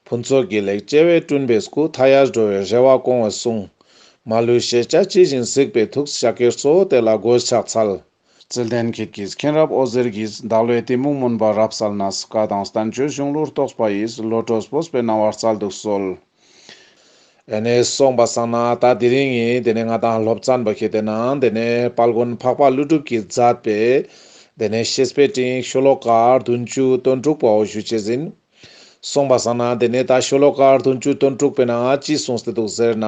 ཕུན་ཚོགས་དགེ་ལེགས་སྐྱེ་བའི་སྤྲུལ་པའི་སྐུ་མཐའ་ཡས་འགྲོ་བའི་རེ་བ་སྐོང་བར་གསུངས། མ་ལུས་ཤེས་བྱ་ཇི་བཞིན་གཟིགས་པའི་ཐུགས་ཞབས་ཀྱིས་གཙོ་བོ་དེ་ལ་གོས་ཕྱག་འཚལ། ཚེ་ལྡན་ཁྱེད་ཀྱིས་མཁན་རབས་ཨོ་ཟེར་གྱིས་བདག་བློའི་གཏི་མུག་མུན་པ་རབ་བསལ་ན་སྲིད་ཀ་དང་བསྟན་བཅོས་གཞུང་ལུགས་རྟོགས་པ་ཡིས་བློ་གྲོས་སྤོབས་པའི་སྣང་བར་སྩལ་འདུག་གསོལ། ཨེ་ནས་སོང་བ་བསམ་ན་ད་དེ་རིང་ཡིན་དེ་ནས་ང་དང་སློབ་ཙམ་པ་ཁྱེད་དེ་ན་དེ་ནས་དཔལ་མགོན་འཕགས་པ་ཀླུ་སྒྲུབ་ཀྱིས་མཛད་པའི་དེ་ནས་ཤེས་དཔལ་སྤྲིན་ཤོག་ལོ་ཀ་བདུན་ཅུ་དོན་དྲུག་པའོ་ཞུ་བྱེད་ཟིན། གསུངས་པ་བཟང་ན་དེ་ནས་ད་ཤོ་ལོ་ཀར་དུ་མཇུག་དོན་དཀྲུགས་པས་ན་ཅི་གསུངས་ཟེར་འདུག་ཟེར་ན།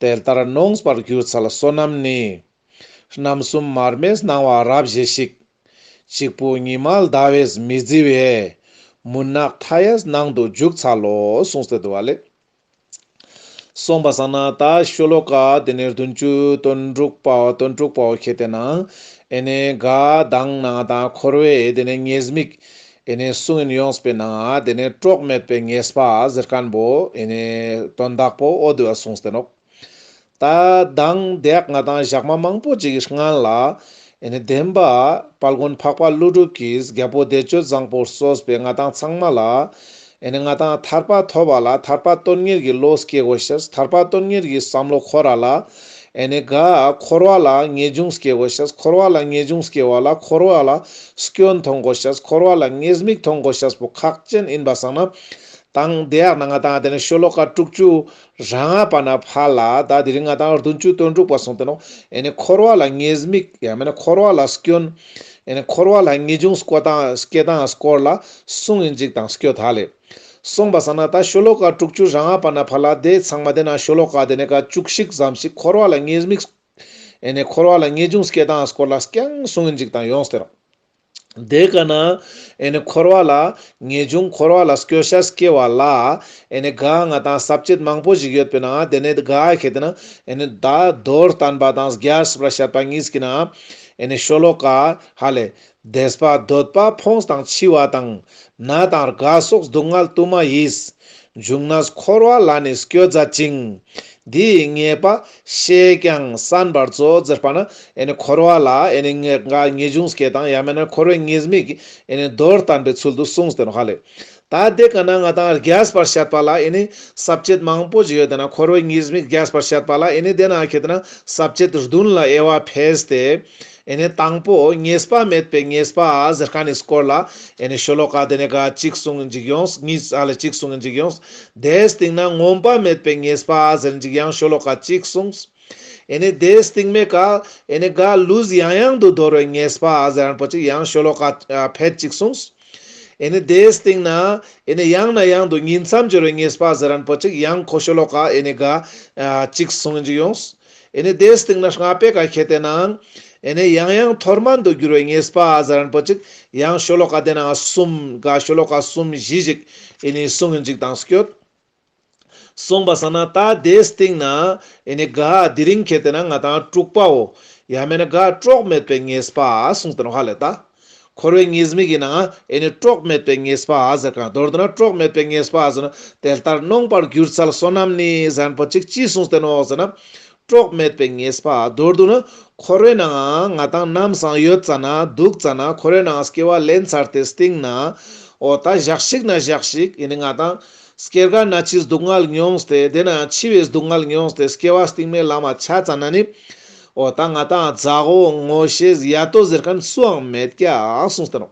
དེ་ལྟར་གནོངས་པར་གྱུར་ཚ་ལ་བསོད་ནམས་ནི། རྣམ་གསུམ་མར་མེས་སྣང་བ་རབ་བཞེས་ཤིག། གཅིག་པུ་ཉི་མ་ཟླ་བས་མི་བརྫི་བའི། མུན་ནག་མཐའ་ཡས་སྣང་དུ་འཇུག་ཚ་ལོ་གསུངས་ཟེར་འདུག་བ་ལས། གསུངས་པ་བསམ་ན་ད་ཤོ་ལོ་ཀ་དེ་ནས་བདུན་ཅུ་དོན་དྲུག་པའོ་དོན་དྲུག་པའོ་ཁྱེད་དེ་ན་ཨེ་ནས་དགའ་སྡང་ན་ད་འཁོར་བའི་དེ་ནས་ངེས་དམིགས་ཨེ་ནས་གསུང་ཡིན་ཡོངས་པའི་ན་དེ་ནས་གྲོགས་མེད་པའི་ངེས་པ་གཟེར་སྐམ་པོ་ཨེ་ནས་དོན་དག་པོ་ཨོ་དུ་བ་གསུངས་ཏེ་ནོག། ད་དང་བདག་ང་དང་བཞག་མ་མང་པོ་ཅིག་སྔ་ལ། བདེན་པ་དཔལ་མགོན་འཕགས་པ་ཀླུ་སྒྲུབ་ཀྱིས་རྒྱལ་པོ་བདེ་སྤྱོད་བཟང་པོར་གསོས་པའི་ང་དང་ཚང་མ་ལ། ང་དང་ཐར་པ་ཐོབ་པ་ལ་ཐར་པ་དོན་གཉེར་གྱི་བློ་སྐྱེ་དགོས་ཤིང་ཐར་པ་དོན་གཉེར་གྱི་བསམ་བློ་འཁོར་ར་ལ། དགའ། འཁོར་བ་ལ་ངེས་འབྱུང་སྐྱེ་དགོས་ཤིང་འཁོར་བ་ལ་ངེས་འབྱུང་སྐྱེ་བ་ལ་འཁོར་བ་ལ་སྐྱོན་མཐོང་དགོས་ཤིང་འཁོར་བ་ལ་ངེས་དམིགས་མཐོང་དགོས་ཤིང་པོ་ཁག་ཅན་ཡིན་པ་བསམ་ན། དང་བདག་ང་དང་བདེན་བཞི་ཤོ་ལོ་ཀ་དྲུག་ཅུ་རང་སྔགས་པ་ན་བྷ་ལ་དག་དེ་རིང་སྔགས་དང་བདུན་ཅུ་དོན་དྲུག་པ་གསུངས་དོན། འཁོར་བ་ལ་ངེས་དམིགས། ཡང་མིན་ན་འཁོར་བ་ལ་སྐྱོན། འཁོར་བ་ལ་ངེས་འབྱུང་སྐོ་དང་སྐྱེ་དང་སྐོར་ལ་གསུངས་ཡིན་འཇིགས་དང་སྐྱོ་དག་ལས། གསུངས་པ་ས་ན་ད་ཤོ་ལོ་ཀ་དྲུག་ཅུ་རང་སྔགས་པ་ན་བྷ་ལ་དེ་ཚང་མ་དེ་ན་ཤོ་ལོ་ཀ་དེ་ནས་ཀ་བཅུ་གཅིག་ཙམ་ཞིག་འཁོར་བ་ལ་ངེས་དམིགས། འཁོར་བ་ལ་ངེས་འབྱུང་སྐྱེ་དང་སྐོར་ལ་སྐྱང་གསུངས་ཡིན་འཇིགས་དང་ཡོངས་སྟེར། དེ་ཀ་ན། འཁོར་བ་ལ། ངེས་འབྱུང་འཁོར་བ་ལ་སྐྱོ་ཤས་སྐྱེ་བ་ལ། དགའ་ང་དང་ཟབ་ཆོས་མང་པོ་ཞིག་ཡོད་པས་ན་དེ་ནི་དགའ་ཞེས་བསྟན་ནོ། བདག་མདོར་བསྟན་པ་དང་རྒྱལ་སྲིད་པར་བཤད་པ་གཉིས་ཀྱིས་ན། ཤོ་ལོ་ཀ། ཧ་ལས། བདེ་བ་འདོད་པ་ཕོངས་དང་འཆི་བ་དང། ན་དང་རྒ་སོགས་སྡུག་བསྔལ་དུ་མ་ཡིས། འབྱུང་ན་འཁོར་བ་ལ་ནི་སྐྱོ་མཛད་ཅིང། འདི་ཡི་ངེས་པ། བཤད་ཀྱང་བསམ་པར་གཙོ་བོ་ཟེར་པ་ནི་འཁོར་བ་ལ་ངེས་དགའ་ངེས་འབྱུང་སྐྱེ་དང་ཡང་མིན་ན་འཁོར་བའི་ངེས་དམིགས་ཀྱི་མདོར་བསྟན་པའི་ཚུལ་དུ་གསུངས་ཟིན་ཧ་ལས། ད་དེ་ག་ན་ང་དང་རྒྱས་པར་བཤད་པ་ལ་ཟབ་ཆོས་མང་པོ་ཞིག་ཡོད་དེ་ན་འཁོར་བའི་ངེས་དམིགས་རྒྱས་པར་བཤད་པ་ལ་དེ་ན་ཁྱེད་ཟབ་ཆོས་བདུན་ལ་དབྱེ་བ་འཕེལ་ཏེ། ཨེ་ནས་དང་པོ་ངེས་པ་མེད་པའི་ངེས་པ་ཟེར་ཁ་ནས་སྐོར་ལ་ཨེ་ནས་ཤོ་ལོ་ཀ་དེ་ནས་ག་ཅིག་གསུངས་འཇིག་ཡོངས་གཉིས་ཨ་ལ་གཅིག་གསུངས་འཇིག་ཡོངས། དེའི་སྟེང་ན་ངོམས་པ་མེད་པའི་ངེས་པ་ཟེར་འཇིག་ཡང་ཤོ་ལོ་ཀ་གཅིག་གསུངས། ཨེ་ནས་དེའི་སྟེང་མེད་ཀ་ཨེ་ནས་ག་ལུས་ཡང་ཡང་དུ་དོར་བའི་ངེས་པ་ཟེར་རན་པོ་ཅིག་ཡང་ཤོ་ལོ་ཀ་ཕལ་གཅིག་གསུངས། ཨེ་ནས་དེའི་སྟེང་ན་ཨེ་ནས་ཡང་ན་ཡང་དུ་ཉིད་མཚམས་སྦྱོར་བའི་ངེས་པ་ཟེར་རན་པོ་ཅིག་ཡང་ཁོ་ཤོ་ལོ་ཀ་ཨེ་ནས་ག་ཅིག་གསུངས་འཇིག་ཡོངས། ཨེ་ནས་དེའི་སྟེང་ན་སྔགས་པས་ག་གེ་བསྟན་ནའང། ཨེ་ནས་ཡང་ཡང་ཐོར་མ་འདུ་འགྱུར་བའི་ངེས་པ་ཨ་ཛ་རན་པོ་ཅིག་ཡང་ཤོ་ལོ་ཀ་བསྟན་ནའང་གསུམ་ག་ཤོ་ལོ་ཀ་གསུམ་བཞི་ཞིག་ཨེ་ནས་གསུང་གི་འཇིག་དང་སྐྱོ། གསུངས་པ་ས་ན་ད་དེའི་སྟེང་ན་ཨེ་ནས་ག་དེ་རིང་གེ་བསྟན་ན་ང་དང་དཀྲུགས་པའོ། ཡང་མེད་ན་ག་དཀྲོགས་མེད་པའི་ངེས་པ་གསུངས་བསྟན་བྷ་ལེ་ད། འཁོར་བའི་ངེས་དམིགས་ཡིན་ནའང་ཨེ་ནི་དཀྲོགས་མེད་པའི་ངེས་པ་ཟེར་གང་མདོར་བསྡུ་ན་དཀྲོགས་མེད་པའི་ངེས་པ་ཟེར་ན་དེ་ལྟར་ནོངས་པར་གྱུར་ཚལ་བསོད་ནམས་ནི་གཟན་པོ་ཅིག་ཅིས་གསུངས་ཏེ་ནོག་ཟེར་ན། དཀྲོགས་མེད་པའི་ངེས་པ་མདོར་བསྡུ་ན་འཁོར་བའི་ནང་ང་དང་རྣམ་སངས་ཡོད་ཙང་ན་སྡུག་ཙང་ན་འཁོར་བའི་ནང་སྐྱེ་བ་ལེན་ཚར་ཏེ་སྟེང་ན་འོ་ད་བཞག་ཞིག་ན་བཞག་ཞིག་ཡིན་ནི་ང་དང། སྐྱེ་རྒ་ན་འཆིའི་སྡུག་བསྔལ་མྱོང་སྟེ་དེ་ནང་འཆི་བའི་སྡུག་བསྔལ་མྱོང་སྟེ་སྐྱེ་བ་སྟིང་མའི་ལམ་བ་ཆ་ཙང་ན་ནི། ཨོ་ད་ང་ད་ཛ་ཧོ་ངོ་ཤེས་ཡ་ཏོ་ཟེར་མཁན་སུའང་མེད་ཀྱ་གསུངས་ཟེར་རོ།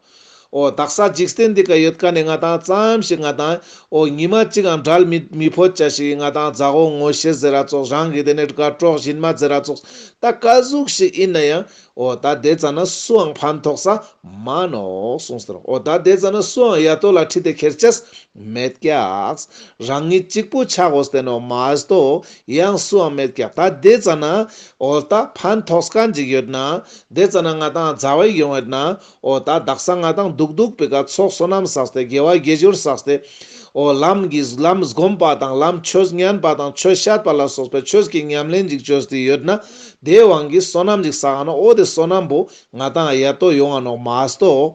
ཨོ་ད་ས་འཇིག་རྟེན་འདི་ག་ཡོད་ཀ་ནས་ང་ད་ཙམ་ཞིག་ང་དང་ཨོ་ཉི་མ་གཅིག་ཨང་འདྲལ་མི་མི་ཕོད་ཀྱ་ཞིག་ང་ད་ཛ་ཧོ་ངོ་ཤེས་ཟེར་ར་ཙོགས་རང་གི་དེ་ནས་དགའ་གྲོགས་གཞིན་མ་ཟེར་ར་ཙོགས་ད་དཀའ་གཟུགས་ཞིག་ཡིན་ན་ཡང་ཨོ་ད་དེ་ཙམ་ན་སུའང་ཕན་ཐོགས་ས་མ་ནོག་གསུངས་ཟེར་རོ་ཨོ་ད་དེ་ཙམ་ན་སུའང་ཡ་ཏོ་ལ་ཁྲིད་དེ་ཁྱེར་ཀྱ་མེད་ཀྱ་རང་ཉིད་གཅིག་པུ་ཆགས་འོ་ཟ་དེ་ནོ་མ་ཟ་ཏོ་ཡང་སུའང་མེད་ཀྱང་ད་དེ་རྩ་ན་འོ་ད་ཕན་ཐོགས་ག་འཇིག་ཡོད་ན། དེ་རྩ་ན་ང་དང་མཛའ་བས་ཡོང་ཡོད་ན། འོ་ད་བདག་ས་ང་དང་སྡུག་སྡུག་པའི་ག་ཚོགས་བསོད་ནམས་བསགས་ཏེ་དགེ་བ་དགེ་སྦྱོར་བསགས་ཏེ། འོ་ལམ་གྱི་ལམ་བསྒོམས་པ་དང་ལམ་ཆོས་ཉན་པ་དང་ཆོས་བཤད་པ་ལ་སོགས་པའི་ཆོས་ཀྱི་ཉམས་ལེན་འཇིག་ཆོས་དེ་ཡོད་ན། དེའི་དབང་གིས་བསོད་ནམས་ཅིག་བསགས་ན་འོ་དེ་བསོད་ནམས་པོ་ང་དང་ཡལ་དོ་ཡོང་བ་ནོག་མ་ཨ་སྟོ།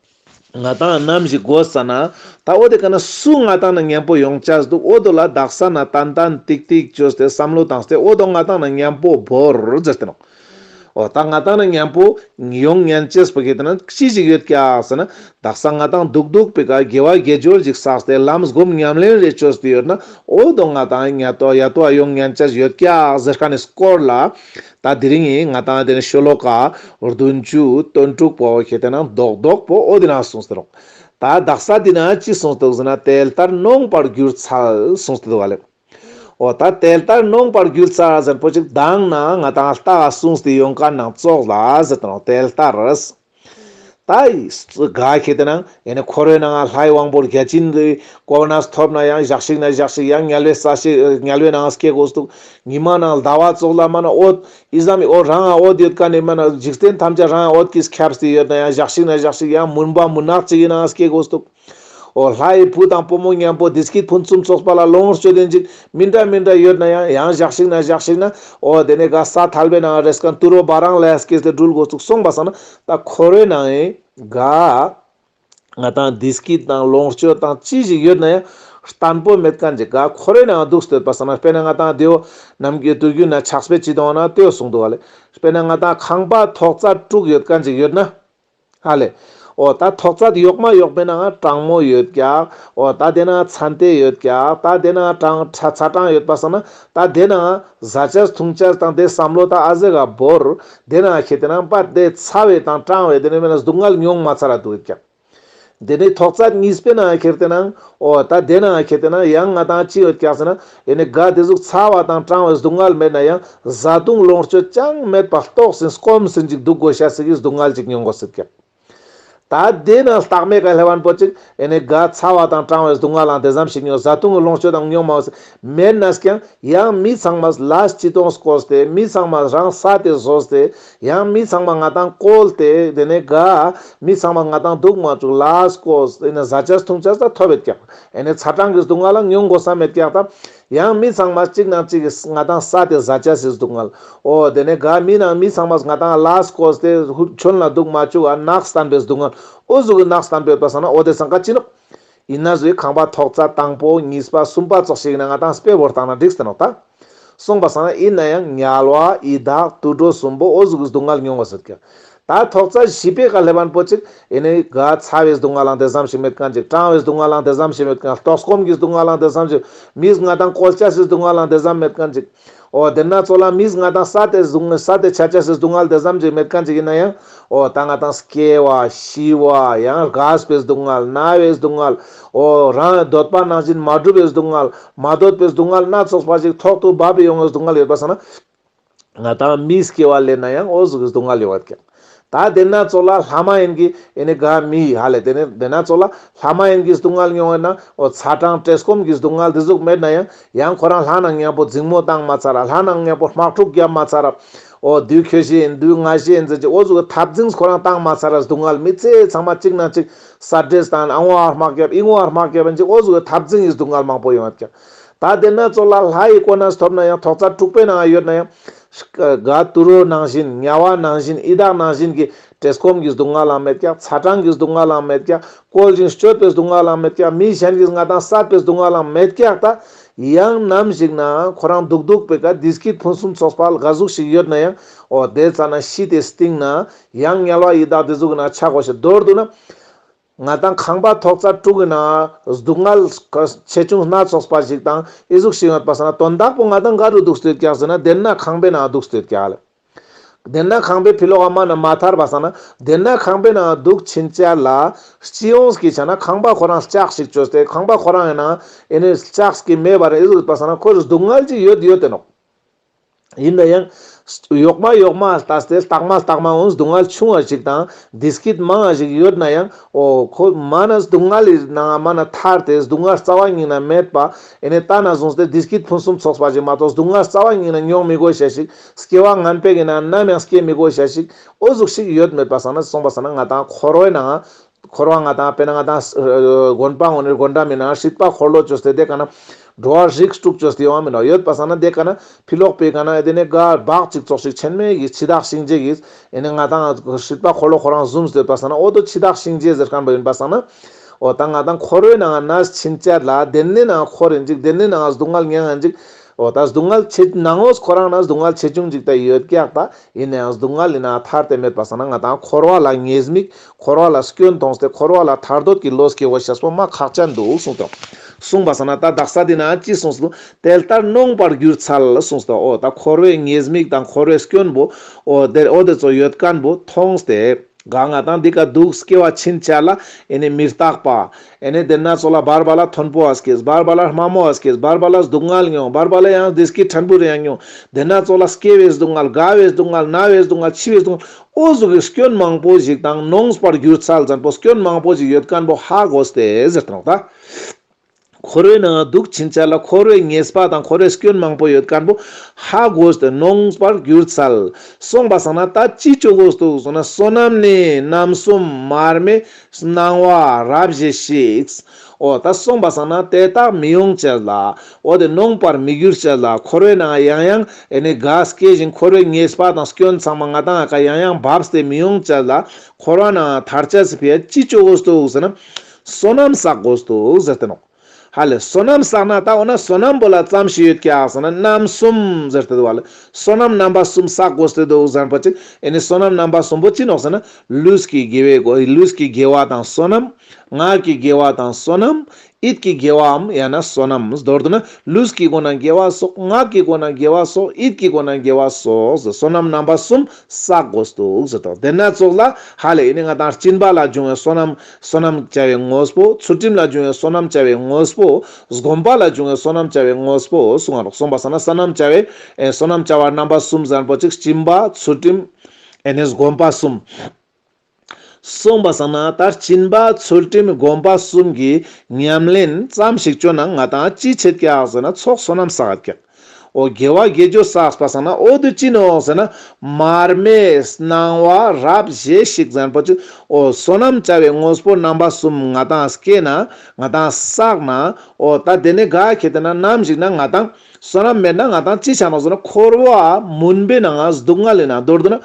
ང་དང་རྣམ་བཞི་དགོ་ས་ན། ད་འོ་དེ་ག་ན་སུ་ང་དང་ན་ཉན་པོ་ཡོང་ཅགས་འདུག་འོ་དོ་ལ་བདག་ས་ན་ཏན་ཏན་ཏིག་ཏིག་བྱོས་ཏེ་བསམ་བློ་དང་སྟེ་འོ་དོ་ང་དང་ན་ཉན་པོ་བོར་ཛེར་ཏེ་ནོ། འོ་ད་ང་དང་ན་ཉན་པོ་ཡོང་ཉན་ཅེས་པ་གི་དེ་ན་ཅི་ཞིག་ཡོད་ཀྱགས་ཟེར་ན། བདག་ས་ང་དང་འདུག་འདུག་པི་ཀ་དགེ་བ་དགེ་སྦྱོར་ཅིག་བསགས་ཏེ་ལམ་སྒོམ་ཉམས་ལེན་རེ་བྱོས་ཏེ་ཡོད་ན་འོ་དོ་ང་དང་ན་ཡ་ཏོ་ཡ་ཏོ་ཡོང་ཉན་ཅགས་ཡོད་ཀྱགས་ཟེར་ཁ་ནས་སྐོར་ལ། ད་དེ་རིང་ངས་ང་དང་དེ་ནས་ཤོ་ལོ་ཀ་བདུན་བཅུ་དོན་དྲུག་པོ་ཞེས་དེ་རྣམས་རྡོག་རྡོག་པོ་ཨོ་དེ་རྣམས་གསུངས་སྟེ་རོགས། ད་བདག་ས་དེ་ན་ཅི་གསུངས་འདུག་ཟེར་ན་དེལ་ལྟར་ནོངས་པར་གྱུར་ཚར་གསུངས་ཏེ་འདུག་ག་ལེ། ཨོ་ད་དེལ་ལྟར་ནོངས་པར་གྱུར་ཚར་ཟེར་པོ་ཅིག་གདངས་ན་ང་དང་རྟགས་གསུངས་ཏེ་ཡོངས་ཀ་ནང་བཙོག་ལ་ཟེར་དང་རོགས་དེལ་ལྟར། དགའ་ཁྱེད་ལྟ་ན་ཡང་ནི་ཁོ་རོའི་ནང་ལྷའི་དབང་པོར་བརྒྱ་བྱིན་གྱིས་བསྐོར་བ་ན་ཐོབ་ན་ཡང་བཞག་ཤིག་ན་བཞག་ཤིག་ཡང་ངལ་བས་ཟ་ཤིག་ངལ་བས་ནའང་སྐྱེ་དགོས་སུ་འདུག་ཉི་མ་ནང་ཟླ་བ་བཙོག་ལ་མ་ན་འོད་ཨི་ཟ་མི་འོད་རང་ཨང་འོད་ཡོད་ཀ་ནས་མ་ན་འཇིག་རྟེན་ཐམས་ཅད་རང་ཨང་འོད་ཀྱིས་ཁྱབ་སྟེ་ཡོད་ན་ཡང་བཞག་ཤིག་ན་བཞག་ཤིག་ཡང་མུན་པ་མུན་ནག་ཅིག་ཡིན་ནའང་སྐྱེ་དགོས་སུ་འདུག། ཨོ་ལྷ་ཡི་བུ་དང་བུ་མོ་མཉམ་པོ་དེ་སྐྱིད་ཕུན་སུམ་ཚོགས་པ་ལ་ལོངས་སྤྱོད་ལེན་ཅིག་མི་འདྲ་མི་འདྲ་ཡོད་ན་ཡང་ཡང་བཞག་ཞིག་ན་བཞག་ཞིག་ན་ཨོ་དེ་ནས་ག་ས་ཐལ་བའི་ནང་རེས་གང་དུ་རོ་བ་རང་ལས་སྐྱེས་ཏེ་སྦྲུལ་འགོ་ཚུགས་སོང་བ་ས་ན་ད་ཁོ་རོའི་ནང་ཡིན་ག། ང་དང་དེ་སྐྱིད་དང་ལོངས་སྤྱོད་དང་ཅི་ཞིག་ཡོད་ན་ཡང་བརྟན་པོ་མེད་ག་འཇིག་ག་ཁོ་རོའི་ནང་འདུག་སྟོད་པ་ས་ན་དཔེར་ན་ང་དང་དེའོ་ནམ་གྱི་དུས་རྒྱུན་ན་ཆགས་པའི་སྤྱི་དོན་ན་ལྟོས་གསུངས་འདུག་བ་ལས་དཔེར་ན་ང་དང་ཁང་པ་ཐོག་རྩ་དྲུག་ཡོད་ག་འཇིག་ཡོད་ན། ཨ་ལས། འོ་ད་ཐོག་ཚ་དེ་ཡོག་མ་ཡོག་པས་ན་ང་གྲང་མོ་ཡོད་ཀྱག་འོ་ད་དེ་ན་ང་ཚ་འདེ་ཡོད་ཀྱག་ད་དེ་ན་ང་གྲང་ཚ་ཚ་གྲང་ཡོད་པ་སང་ན་ད་དེ་ན་ང་བཟའ་ཆས་འཐུང་ཆས་དང་དེ་བསམ་བློ་ད་ཨ་ཟེ་ག་བོར་དེ་ན་ང་ཁྱེད་དེ་ན་པ་དེ་ཚ་བས་དང་གྲང་བས་དེ་ན་མེ་ན་སྡུག་བསྔལ་མྱོང་མ་ཚ་ར་དུ་ཡོད་ཀྱག། འདི་ནི་ཐོག་རྩ་གཉིས་སྤེལ་ནའང་ཁེར་བལྟས་ནའང་ཨོ། ད་བདེན་ནའང་ཁེར་བལྟས་ནའང་ཡང་ང་དང་ཅི་ཡོད་སྐྱག་ཟེར་ན་ཡེ་ནས་དགའ་བདེ་གཟུགས་ཚ་བ་དང་སྐྲངས་བའི་སྡུག་བསྔལ་མེད་ན་ཡང་བཟའ་བཏུང་ལོངས་སྤྱོད་ཅང་མེད་པ་ལྟོགས་ཟིན་སྐོམ་ཟིན་ཅིག་སྡུག་དགོས་ཤ་ཟིག་གིས་སྡུག་བསྔལ་ཅིག་མྱོང་དགོས་ཟིག་སྐྱག། ད་བདེན་ནའང་རྟགས་མེད་ག་ལྷེ་བན་པོ་ཅིག་ཡེ་ནས་དགའ་ཚ་བ་དང་སྐྲངས་བའི་སྡུག་བསྔལའང་དེ་ཙམ་ཞིག་མྱོང་བཟའ་བཏུང་གི་ལོངས་སྤྱོད་དང་མྱོང་མང་བ་ཟིག་མེད་ན་སྐྱག། ཡང་མི་ཚང་མ་ལ་སྤྱི་དོངས་སུ་བསྐོར་ཏེ་མི་ཚང་མ་རང་ས་དེ་བཟོ་སྟེ་ཡང་མི་ཚང་མ་ང་དང་བཀོལ་ཏེ་དེ་ནས་དགའ། མི་ཚང་མ་ང་དང་སྡུག་མ་བཅུག་ལཱས་བཀོལ། དེ་ནས་བཟའ་བཅའ་འཐུང་བཅའ་ད་ཐོ་བས་བཀྱགས། དེ་ནས་ཚ་གྲང་གི་སྡུག་བསྔལ་ལ་ཉུང་དགོས་ས་མེད་བཀྱགས་ད། ཡང་མི་ཚང་མ་གཅིག་ནང་གཅིག་གིས་ང་དང་ས་དེ་བཟའ་བཅའ་ཟིག་སྡུག་བསྔལ། ཨོ། དེ་ནས་དགའ་མི་ནང་མི་ཚང་མ་ང་དང་ལཱས་བཀོལ་ཏེ་ཧུད་ཁྱོད་ལ་སྡུག་མ་བཅུག་ཨ་ནགས་བསྟན་པའི་སྡུག་བསྔལ། ཨོ་གཟུགས་ཀྱི་ནགས་བསྟན་པའི་བ་ས་ན་ཨོ་དེ་ཚང་ཀ་ཅི་ནུབ། ཡིན་ན་བཟོའི་ཁང་པ་ཐོག་རྩ་དང་པོ་གཉིས་པ་གསུམ་པ་སོགས་ཤིག་ཡིན་ན་ང་དང་སྤེལ་བོར་བཏང་ན་འགྲིག་ཟེར་ནོག་ད། གསུངས་པ་ཟ་ན་ཡིན་ན་ཡང་ཉལ་བ་ཡི་དྭགས་དུད་འགྲོ་གསུམ་པོ་ཨོ་གཟུགས་ཀྱི་སྡུག་བསྔལ་མྱོང་བ་ཟེར་གི། ད་ཐོག་རྩ་བཞི་པའི་ག་ལྷེ་བན་པོ་ཅིག་ཡིན་ནའི་ག་ཚ་བའི་སྡུག་བསྔལ་ལང་དེ་བསམ་ཞིག་མེད་ག་འཇིགས་སྐྲང་བའི་སྡུག་བསྔལ་ལང་དེ་བསམ་ཞིག་མེད་ག་ལྟོགས་སྐོམ་གྱི་སྡུག་བསྔལ་ལང་དེ་བསམ་ཞིག་མིས་ང་དང་གོལ་བཅད་སའི་སྡུག་བསྔལ་ལང་དེ་བསམ་མེད་ག་འཇིགས། འོ་དེས་ན་ཚོགས་ལ་མིས་ང་དང་ས་དེ་གཟུགས་ནི་ས་དེ་ཆ་བྱ་སྲིད་སྡུག་བསྔལ་དེ་བསམ་གྱིས་མེད་གང་ཅི་ཡིན་ན་ཡང། འོ་ད་ང་དང་སྐྱེ་བ། ཤི་བ། ཡང་རྒས་པའི་སྡུག་བསྔལ། ན་བའི་སྡུག་བསྔལ། འོ་རང་གདོད་པ་ནང་བཞིན་མ་བསྒྲུབས་པའི་སྡུག་བསྔལ། མ་གདོད་པའི་སྡུག་བསྔལ་སྣ་ཚོགས་པ་ཞིག་ཐོག་ཏུ་བབས་པས་ཡོང་བའི་སྡུག་བསྔལ་ཡོད་པར་སོང་ན། ང་དང་མིས་སྐྱེ་བ་ལས་ན་ཡང་འོ་གཟུགས་ཀྱི་སྡུག་བསྔལ་ཡོང་བར་ཐལ། ད་བདེན་སྣ་ཚོགས་ལ་ལྷ་མ་ཡིན་གྱི་ཨེ་ནི་ག་མི་ཡི་ཧ་ལས་དེ་ནས་བདེན་སྣ་ཚོགས་ལ་ལྷ་མ་ཡིན་གྱི་སྡུག་བསྔལ་མྱོང་བས་ན་འོ་ཚ་གྲང་བཀྲེས་སྐོམ་གྱི་སྡུག་བསྔལ་འདི་གཟུགས་མེད་ན་ཡང་ཡང་ཁོ་རང་ལྷ་རྣམས་གཉེན་པོ་རྫིང་མོ་བཏང་མ་ཚར་ར་ལྷ་རྣམས་གཉེན་པོ་དམག་འཁྲུགས་བརྒྱབ་མ་ཚར་ར་འོ་བདུད་ཁྱོད་ཤི་ཡིན་བདུད་ང་ཤི་ཡིན་ཟེར་གྱི་འོ་གཟུགས་ཀྱི་འཐབ་འཛིངས་ཁོ་རང་བཏང་མ་ཚར་ར་སྡུག་བསྔལ་མི་ཚེ་ཚང་མ་གཅིག་ན་གཅིག་ས་བྲེས་དང་ཨ་ངོ་ཨར་དམག་བརྒྱབ་ཨི་ངོ་ཨར་དམག་བརྒྱབ་ཡིན་གྱི་འོ་གཟུགས་ཀྱི་འཐབ་འཛིངས་ཡིན་སྡུག་བསྔལ་མང་པོ་ཡོང་བས་ཀྱང་ད་ལྟའི་ན་ཚོད་ལ་ལྷ་ཡི་གོ་ནས་ཐོབ་ན་ཡང་ཐོག་རྩ་དྲུག་པའི་ནང་ཡོད་ན་ཡང། ག་དུ་རོ་ནང་བཞིན་དམྱལ་བ་ནང་བཞིན་ཨི་དྭགས་ནང་བཞིན་གྱི། བྲེལ་སྐོམ་གྱི་སྡུག་བསྔལ་ལའང་མེད་ཀྱང་ཚ་གྲང་གི་སྡུག་བསྔལ་ལའང་མེད་ཀྱང་བསྐོལ་ཅིང་སྤྱོད་པའི་སྡུག་བསྔལ་ལའང་མེད་ཀྱང་མི་གཞན་གྱི་མངའ་ཐང་བསགས་པའི་སྡུག་བསྔལ་ལའང་མེད་ཀྱང་ད། ཡང་ནམ་ཞིག་ན་ཁོ་རང་སྡུག་སྡུག་པའི་ག་དུས་སྐྱིད་ཕུན་སུམ་ཚོགས་པ་ལ་ག་གཟུགས་ཤིག་ཡོད་ན་ཡང། འོ་དེའི་ཚ་ན་ཤི་དེ་སྟེང་ན། ཡང་དམྱལ་བ་ཡི་དྭགས་དེ་གཟུགས་ན་ཆག་གོ་ཞེས་མདོར་བསྡུ་ན། ང་དང་ཁང་པ་ཐོག་རྩ་དྲུག་གི་ནང་གཟུགས་མངལ། ཆེ་ཆུང་སྣ་ཚོགས་པ་ཞིག་དང་ཨི་གཟུགས་ཤིག་ཡོད་པ་ཟེར་ན་དོན་དག་པོ་ང་དང་འགའ་རུ་སྡུག་སྤྲེལ་ཀྱག་ཟེར་ན་བདེན་ན་ཁང་པའི་ནང་སྡུག་སྤྲེལ་ཀྱག་ལ། བདེན་ན་ཁང་པའི་ཕི་ལོག་དམའ་ན་མ་ཐར་བ་ཟེར་ན་བདེན་ན་ཁང་པའི་ནང་སྡུག་ཕྱིན་ཅལ་ལ། སྤྱི་ཡོངས་ཀྱིས་བྱས་ན་ཁང་པ་ཁོ་རང་ལྕགས་ཤིག་བཅོས་ཏེ་ཁང་པ་ཁོ་རང་ཡིན་ན་ཨི་ནི་ལྕགས་ཀྱི་མེ་བ་རེད་ཨི་གཟུགས་ཡོད་པ་ཟེར་ན་ཁོ་རུ་སྡུག་མངལ་གྱི་ཡོད་ཡོད་དེ་ནོ། ཡིན་ན་ཡང། གཡོག་མ་གཡོག་མ་ལྟ་སྟེ་རྟགས་མ་རྟགས་མ་འོན་སྡུག་བསྔལ་ཆུང་བ་ཞིག་དང་བདེ་སྐྱིད་མང་བ་ཞིག་ཡོད་ན་ཡང། ཨོ། ཁོ་མ་ན་སྡུག་བསྔལ་ལས་ན་ང་མ་ན་ཐར་ཏེ་སྡུག་བསྔལ་རྩ་བ་ཉིད་ན་མེད་པ། ཨེ་ནས་ལྟ་ན་བཟུང་སྟེ་བདེ་སྐྱིད་ཕུན་སུམ་ཚོགས་པ་ཞིག་མ་གཏོགས་སྡུག་བསྔལ་རྩ་བ་ཉིད་ན་མྱོང་མི་དགོས་བྱ་ཞིག་སྐྱེ་བ་ངན་པས་ཀྱི་ན་ནམ་ཡང་སྐྱེ་མི་དགོས་བྱ་ཞིག་ཨོ་གཟུགས་ཤིག་ཡོད་མེད་པ་ས་ན་གསུངས་པ་ས་ན་ང་དང་ཁོ་རོའི་ན་ང། འཁོར་བ་ང་དང་དཔེར་ན་ང་དང། དགོན་སྤང་ངོ་ནི་དགོན་འདྲ་མིན་ན་སྲིད་པ་འཁོར་ལོ་ཅོ་སྟེ་དེ་ག་ན། འགྲོ་བ་རིགས་དྲུག་ཅོ་སྟེ་ཡོང་བ་མིན་ནོ་ཡོད་པ་ས་ན་དེ་ག་ན། ཕི་ལོག་པའི་ག་ན་དེ་ནི་ག་བག་ཅིག་ཙོག་ཞིག་ཆེན་མོའི་གིས་འཆི་བདག་གཤིན་རྗེ་གིས། ཡེ་ནས་ང་དང། སྲིད་པ་འཁོར་ལོ་ཁོ་རང་བཟུང་ཟེར་བ་ས་ན་འོ་དོ་འཆི་བདག་གཤིན་རྗེ་ཟེར་ག་འདྲ་ཡིན་པ་ས་ན། འོ་ད་ང་དང་འཁོར་བའི་ནང་ན་ཕྱིན་ཆད་ལ་དེ་ནི་ན་འཁོར་ཡིན་ཅིག་དེ་ནི་ན་སྡུག་བསྔལ་ཉེ་ང་འཇིག། འོ་ད་སྡུག་བསྔལ་ཆེ། ནང་ངོ་ཁོ་རང་ན་སྡུག་བསྔལ་ཆེ་ཆུང་འཇིག་ད་ཡོད་སྐྱག་ད། ཡེ་ནས་ཡང་སྡུག་བསྔལ་ཡིན་ན་ཐར་དེ་མེད་པ་ས་ན་ང་དང་འཁོར་བ་ལ་ངེས་དམིགས། འཁོར་བ་ལ་སྐྱོན་མཐོང་སྟེ་འཁོར་བ་ལ་ཐར་འདོད་ཀྱི་བློ་སྐྱེ་བ་ཞེས་པ་མ་ཁག་ཅན་འདུག་གསུངས་སོ། གསུངས་པ་ས་ན་ད་བདག་ས་དེ་ན་ཅི་གསུངས་སོ། དལ་ལྟར་གནོངས་པར་གྱུར་ཚལ་གསུངས་སོ། འོ་ད་འཁོར་བའི་ངེས་དམིགས་དང་འཁོར་བའི་སྐྱོན་བུ། འོ་དེར་འོ་དེ་ཚོ་ཡོད་ཀན་བུ་མཐོང་སྟེ། ག་ང་དང་འདི་ག་འདུག་སྐྱེ་བ་ཕྱིན་ཆད་ལ་ཨེ་ནི་མི་རྟག་པ། ཨེ་ནི་དེ་སྣ་ཚོགས་ལ་འབར་བ་ལ་མཐོན་པོ་བ་སྐྱེས་འབར་བ་ལ་དམའ་མོ་བ་སྐྱེས་འབར་བ་ལ་སྡུག་བསྔལ་མྱོང་འབར་བ་ལ་ཡང་བདེ་སྐྱིད་ཕྲན་བུ་རེ་ཡང་མྱོང། དེ་སྣ་ཚོགས་ལ་སྐྱེ་བའི་སྡུག་བསྔལ་རྒ་བའི་སྡུག་བསྔལ་ན་བའི་སྡུག་བསྔལ་འཆི་བའི་སྡུག་བསྔལ་ཨོ་ཟོ་གིས་སྐྱོན་མང་པོ་ཞིག་དང་ནོངས་པར་གྱུར་ཚད་ཙམ་པོ་སྐྱོན་མང་པོ་ཞིག་ཡོད་དཀོན་པོ་ཧ་གོ་སྟེ་ཟེར་དང་རོགས་ད། ཁོ་རོའི་ནང་སྡུག་ཕྱིན་ཆད་ལ་ཁོ་རོའི་ངེས་པ་དང་ཁོ་རོའི་སྐྱོན་མང་པོ་ཡོད་དཀོན་པོ་ཧ་གོ་སྟེ་ནོངས་པར་གྱུར་ཚད་གསུངས་པ་བསམ་ན་ད་ཅི་ཅོ་གོ་སྟུག་གསུངས་ན་བསོད་ནམས་ནི་རྣམ་གསུམ་མར་མེ་སྣང་བ་རབ་བཞི་ཞིག་འོ་ད་གསུངས་པ་བསམ་ན་དེ་དག་མི་ཡོང་ཅེས་ལ། འོ་དེ་ནོངས་པར་མི་འགྱུར་ཅེས་ལ་འཁོར་བའི་ནང་ཡང་ཡང་ཨེ་ནི་དགའ་སྐྱེ་བཞིན་འཁོར་བའི་ངེས་པ་དང་སྐྱོན་ཚང་མ་ང་དང་ཨ་ཁ་ཡང་ཡང་བབས་དེ་མི་ཡོང་ཅེས་ལ། འཁོར་བ་ནང་དར་ཆ་ཟིག་པས་ཅི་སྤྱོད་དགོས་འདུག་ཟེར་ན། བསོད་ནམས་བསགས་དགོས་འདུག་ཟེར་དེ་ནོངས། ཧ་ལས་བསོད་ནམས་བསགས་ན་ད་འོ་ན་བསོད་ནམས་པོ་ལ་བརྩམས་ཤིག་ཡོད་ཀྱག་ཟེར་ན་རྣམ་གསུམ་ཟེར་དེ་དུ་བ་ལས་བསོད་ནམས་རྣམ་པ་གསུམ་བསགས་དགོས་དེ་འདུག་ཟེར་པ་ཅིག་ཨེ་ནི་བསོད་ནམས་རྣམ་པ་གསུམ་པོ་ཅི་ནོག་ཟེར་ན་ལུས་ཀྱི་དགེ་བའི་དགོས་ལུས་ཀྱི་དགེ་བ་དང་བསོད་ནམས། ངག་གི་དགེ་བ་དང་བསོད་ནམས། ཨིད་ཀྱི་དགེ་བའམ་ཡང་ན་བསོད་ནམས་མདོར་བསྡུ་ན་ལུས་ཀྱི་སྒོ་ན་དགེ་བ་སོགས་ངག་གི་སྒོ་ན་དགེ་བ་སོགས་ཨིད་ཀྱི་སྒོ་ན་དགེ་བ་སོགས་བསོད་ནམས་རྣམ་པ་གསུམ་བསགས་དགོས་ཏུག་ཟེར་ཏོ་དེ་ནས་ཙོག་ལ་ཧ་ལས་ཨི་ནི་ང་དང་སྤྱིན་པ་ལ་འབྱུང་བའི་བསོད་ནམས་བསོད་ནམས་བྱ་བའི་དངོས་པོ་ཚུལ་ཁྲིམས་ལ་འབྱུང་བའི་བསོད་ནམས་བྱ་བའི་དངོས་པོ་བསྒོམ་པ་ལ་འབྱུང་བའི་བསོད་ནམས་བྱ་བའི་དངོས་པོ་གསུང་ངར་གསུངས་པ་བསོད་ན་ས་རྣམས་བྱ་བའི་བསོད་ནམས་བྱ་བ་རྣམ་པ་གསུམ་བཟང་པོ་གཅིག་སྤྱིན་པ་ཚུལ་ཁྲིམས་ཨེ་ནི་བསྒོམ་པ་གསུམ། གསུངས་པ་བསམ་ན་ད་བྱིན་པ་ཚུལ་ཁྲིམས་དགོན་པ་གསུམ་གྱི་ཉམས་ལེན་ཙམ་ཞིག་བཅོས་ན་ང་དང་ཅི་བྱེད་སྐྱག་ཟེར་ན་ཚོགས་བསོད་ནམས་བསགས་སྐྱག་ཨོ་དགེ་བ་དགེ་སྦྱོར་བསགས་པ་བསམ་ན་ཨོ་དུས་ཅི་ནུས་འོག་ཟེར་ན་མར་མེས་སྣང་བ་རབ་བཞེས་ཤིག་ཟེར་ན་པོ་ཆུ་ཨོ་བསོད་ནམས་བྱ་བའི་དངོས་པོ་རྣམ་པ་གསུམ་ང་དང་སྐྱེས་ན་ང་དང་བསགས་ན་ཨོ་ད་དེ་ནས་དགའ་ཁྱེད་དེ་ན་ནམ་ཞིག་ན་ང་དང། བསོད་ནམས་མེད་ན་ང་དང་ཅི་བྱ་མ་བཟོད་ན་འཁོར་བ་མུན་པའི་ནང་སྡུག་བསྔལ་ལས་ན་རྡོར་དུ་ན་